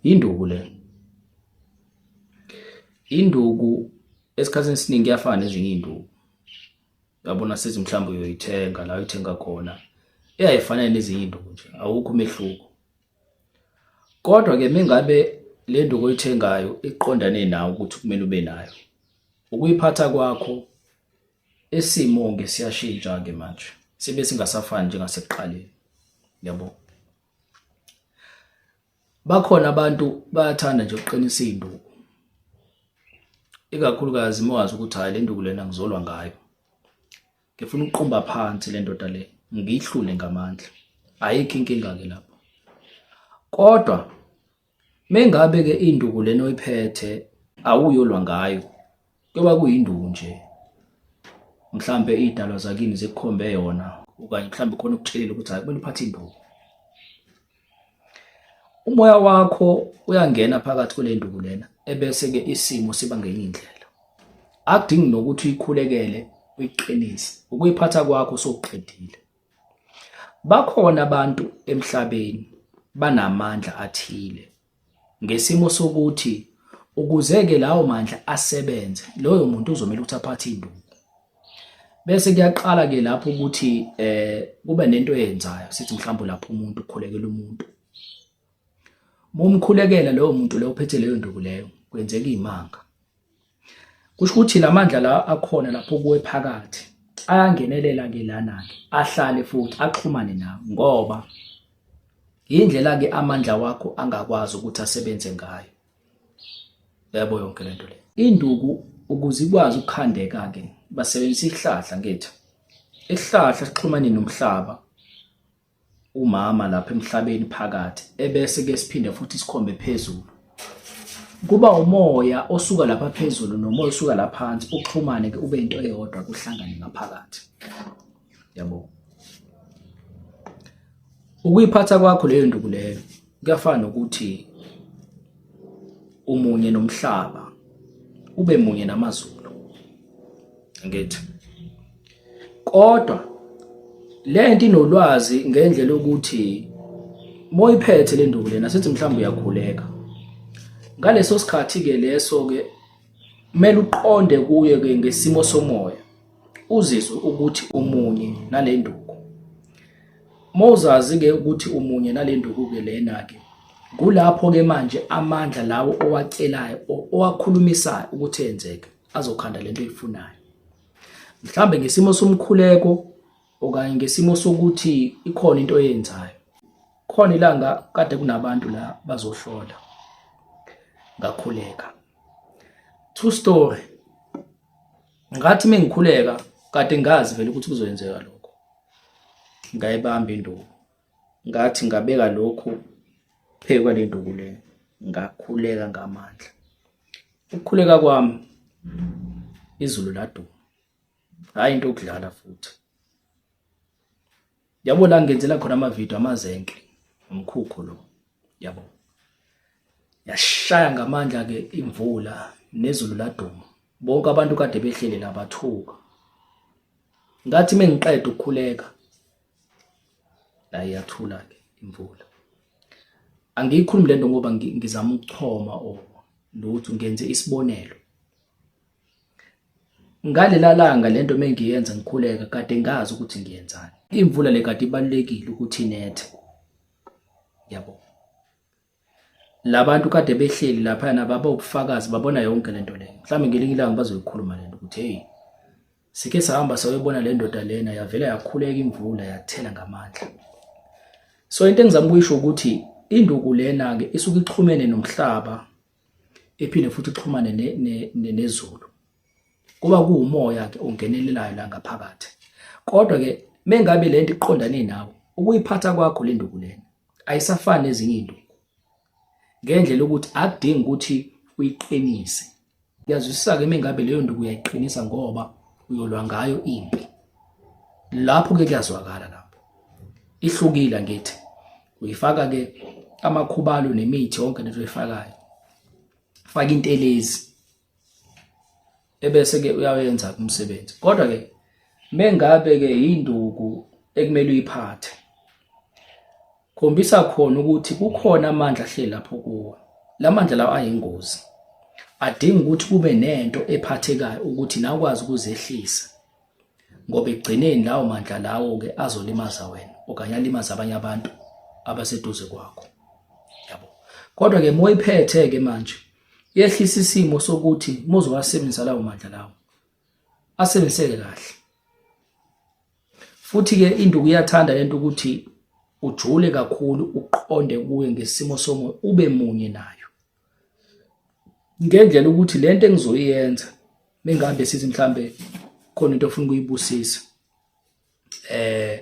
Induku le. Induku esikhathini esiningi iyafana nezinye iy'nduku. Uyabona sithi mhlawumbe uyoyithenga la uyithenga khona. Eyayifana nezinye iy'nduku nje, awukho umehluko. Kodwa-ke mengabe le nduku oyithengayo iqondane nawe ukuthi kumele ube nayo. Ukuyiphatha kwakho isimo-ke siyashintsha-ke manje, sibe singasafani njengasekuqaleni. Uyabo? Bakhona abantu bayathanda nje ukuqinisa iy'nduku, ikakhulukazi uma wazi ukuthi hhayi le nduku lena ngizolwa ngayo. Ngifuna ukuqumba phansi le ndoda le, ngiyihlule ngamandla. Ayikho inkinga-ke lapho, kodwa. Mengabe ke induku lena oyiphethe awuyolwa ngayo kuyoba kuyinduku nje mhlambe idalwa zakini zikukhombe yona okanye mhlambe khona ukutshelela ukuthi hayi kumele uphathe induku umoya wakho uyangena phakathi kule nduku lena ebese ke isimo siba ngenye indlela akudingi nokuthi uyikhulekele uyiqinise ukuyiphatha kwakho sokuqedile Bakhona abantu emhlabeni banamandla athile ngesimo sokuthi ukuze-ke lawo mandla asebenze loyo muntu uzomele ukuthi aphathe induku. Bese kuyaqala-ke lapho ukuthi um kube nento eyenzayo sithi mhlawumbe lapho umuntu ukhulekela umuntu Uma umkhulekela lowo muntu lowo uphethe leyo nduku leyo kwenzeka iy'manga. Kusho ukuthi la mandla la akhona lapho kuwe phakathi ayangenelela-ke lana-ke ahlale futhi axhumane nawe ngoba yindlela-ke amandla wakho angakwazi ukuthi asebenze ngayo. Yebo yonke le nto le. Induku ukuze ikwazi ukukhandeka-ke basebenzisa ihlahla ngethu. Isihlahla sixhumane nomhlaba. umama lapha emhlabeni phakathi ebese ke siphinde futhi sikhombe phezulu kuba umoya osuka lapha phezulu nomoya osuka lapha phansi uxhumane ke ube into eyodwa kuhlangane ngaphakathi yabo ukuyiphatha kwakho leyo nduku leyo kuyafana nokuthi umunye nomhlaba ube munye namazulu ngithi kodwa lento inolwazi ngendlela yokuthi moyiphethe le nduku lena sithi mhlawumbe uyakhuleka ngaleso sikhathi ke leso ke kumele uqonde kuye ke ngesimo somoya uzizwe ukuthi umunye nale nduku mawuzazi-ke ukuthi umunye nale nduku-ke lena-ke kulapho-ke manje amandla lawo owacelayo owakhulumisayo ukuthi enzeke azokhanda lento oyifunayo mhlambe ngesimo somkhuleko okanye ngesimo sokuthi ikhona into oyenzayo khona ilanga kade kunabantu la bazohlola ngakhuleka true story ngathi mengikhuleka kade ngazi vele ukuthi kuzoyenzeka lokho ngayibamba induku ngathi ngabeka lokhu phezu kwale nduku le ngakhuleka ngamandla ukukhuleka kwami izulu laduma hhayi into yokudlala futhi Yabo la ngenzela khona amavidiyo amazenke umkhukhu lo. Yabo. Yashaya ngamandla ke imvula nezulu laduma. Bonke abantu kade behlele labathuka. Ngathi mengiqeda ukukhuleka la iyathula ke imvula. Angiyikhulumi lento ngoba ngizama ukuchoma o lutho ngenze isibonelo. Ngalela langa lento mengiyenza ngikhuleka kade ngazi ukuthi ngiyenzani. Imvula le kade ibalekile ukuthi inethe. Yabo. Labantu kade behleli lapha na baba ubufakazi babona yonke lento le. Mhlawumbe ngelinye ilanga bazoyikhuluma lento ukuthi hey sike sahamba sawebona le ndoda lena yavela yakhuleka imvula yathela ngamandla. So into engizama ukuyisho ukuthi induku lena ke isuke ixhumene nomhlaba ephinde futhi uxhumane nezulu kuba kuwumoya ke ongenelelayo la ngaphakathi kodwa ke mengabe lento iqondane nawe ukuyiphatha kwakho le nduku lena ayisafani nezinye into ngendlela ukuthi akudingi ukuthi uyiqinise yazwisisa ke mengabe leyo nduku uyayiqinisa ngoba uyolwa ngayo impi lapho ke kuyazwakala lapho ihlukile ngithi uyifaka ke amakhubalo nemithi yonke lento oyifakayo faka intelezi ebese ke uyawenza umsebenzi kodwa ke mengabe ke induku ekumele uyiphathe khombisa khona ukuthi kukhona amandla ahleli lapho kuwe lamandla lawo ayingozi adinga ukuthi kube nento ephathekayo ukuthi nakwazi ukuzehlisa ngoba ekugcineni lawo mandla lawo-ke azolimaza wena okanye alimaze abanye abantu abaseduze kwakho yabo kodwa-ke uma uyiphethe-ke manje yehlisa isimo sokuthi muzowasebenzisa lawo mandla lawo asebenziseke kahle futhi-ke induku iyathanda lento ukuthi ujule kakhulu uqonde kuye ngesimo somoya ube munye nayo ngendlela ukuthi lento engizoyenza mengabe sithi mhlambe khona into ofuna ukuyibusisa eh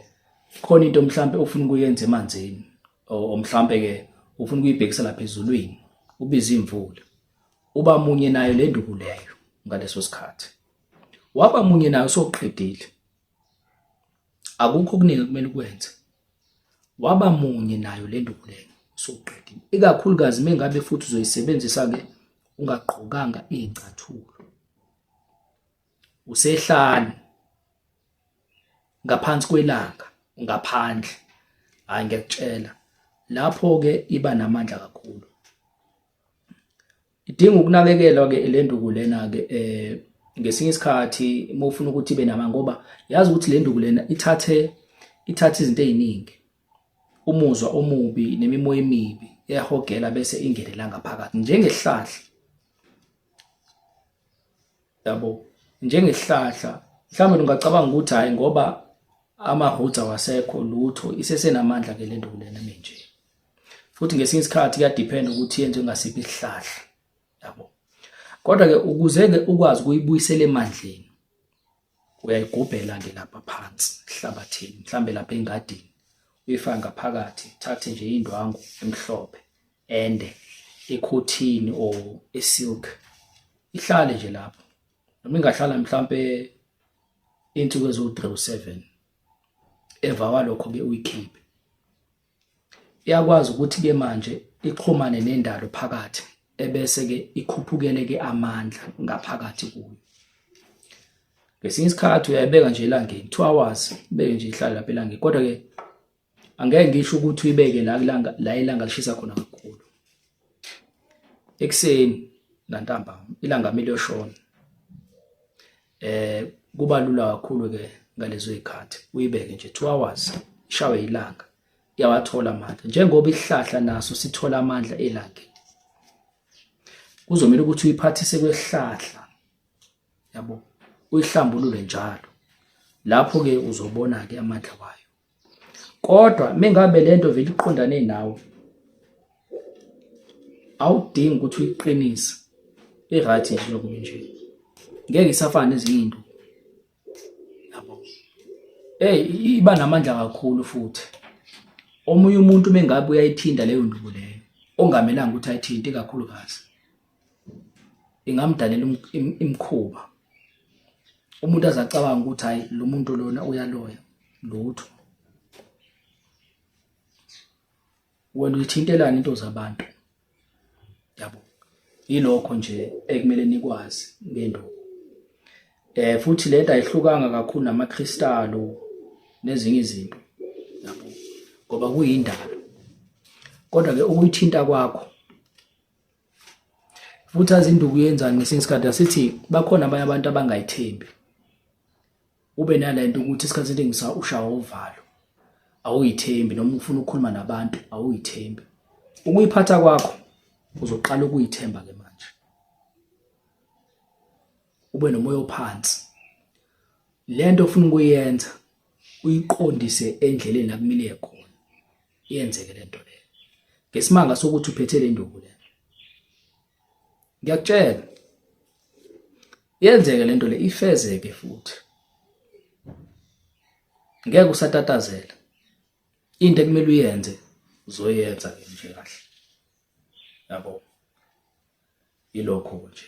khona into mhlambe ofuna ukuyenza emanzini o mhlambe ke ufuna ukuyibhekisa lapha ezulwini ubiza imvula uba munye nayo le nduku leyo ngaleso sikhathi waba munye nayo soqedile Akukho okuningi ekumele ukwenze. Waba munye nayo le nduku lena usuqedile. Ikakhulukazi uma ngabe futhi uzoyisebenzisa-ke ungagqokanga iy'cathulo. Usehlane ngaphansi kwelanga ngaphandle. Hhayi ngiyakutshela, lapho-ke iba namandla kakhulu. Idinga ukunakekelwa ke le nduku lena ke eh ngesinye isikhathi uma ufuna ukuthi ibe nama ngoba yazi ukuthi le nduku lena ithathe ithathe izinto eziningi umuzwa omubi nemimoya emibi eyahogela bese ingenela ngaphakathi njengehlahla yabo njengesihlahla mhlawumbe lungacabanga ukuthi hhayi ngoba ama-roots awasekho lutho isesenamandla ke le nto kulena menje futhi ngesinye isikhathi kuyadiphenda ukuthi yenze ngasiphi isihlahla yabo kodwa-ke ukuze-ke ukwazi ukuyibuyisela emandleni uyayigubhela-ke lapha phansi ehlabathini mhlawumbe lapha engadini uyifake ngaphakathi thathe nje indwangu emhlophe ende ekhothini or esilk ihlale nje lapho noma ingahlala mhlambe insuku eziwu-37 emva kwalokho-ke uyikhiphe iyakwazi ukuthi-ke manje ixhumane nendalo phakathi ebese-ke ikhuphukele-ke amandla ngaphakathi kuyo ngesinye isikhathi uyayibeka nje elangeni two hours beke nje ihlale lapha elangeni kodwa-ke angeke ngisho ukuthi uyibeke la kulanga la ilanga lishisa khona kakhulu ekseni nantambama ilanga miliyoshona eh kuba lula kakhulu ke ngalezo zikhathi uyibeke nje 2 hours ishawe ilanga iyawathola amandla njengoba isihlahla naso sithola amandla elangeni kuzomela ukuthi uyiphathise kwesihlahla yabo uyihlambulule njalo lapho ke uzobona ke amandla wayo kodwa mengabe lento vele iqondane nawe awudingi ukuthi uyiqinise i-right nje lokhu nje ngeke isafane ezinye into yabo hey iba namandla kakhulu futhi omunye umuntu mengabe uyayithinda leyo nduku leyo ongamelanga ukuthi ayithinte kakhulukazi ingamdalela imkhuba umuntu azacabanga ukuthi hayi lo muntu lona uyaloya lutho wena uyithintelana into zabantu yabo yilokho nje ekumele nikwazi ngenduku eh futhi lento ayihlukanga kakhulu namakristalo nezinye izinto yabo ngoba kuyindalo kodwa ke ukuyithinta kwakho futhi azi induku yenzani ngesinye isikhathi asithi bakhona abanye abantu abangayithembi ube nale nto ukuthi isikhathi esiningi sa ushawa uvalo awuyithembi noma ufuna ukukhuluma nabantu awuyithembi ukuyiphatha kwakho uzoqala ukuyithemba ke manje ube nomoya ophansi lento ofuna ukuyenza uyiqondise endleleni akumile khona yenzeke lento le ngesimanga sokuthi uphethe le nduku le ngiyakutshela yenzeke lento le ifezeke futhi ngeke usatatazela into ekumele uyenze uzoyenza ke nje kahle yabo ilokho nje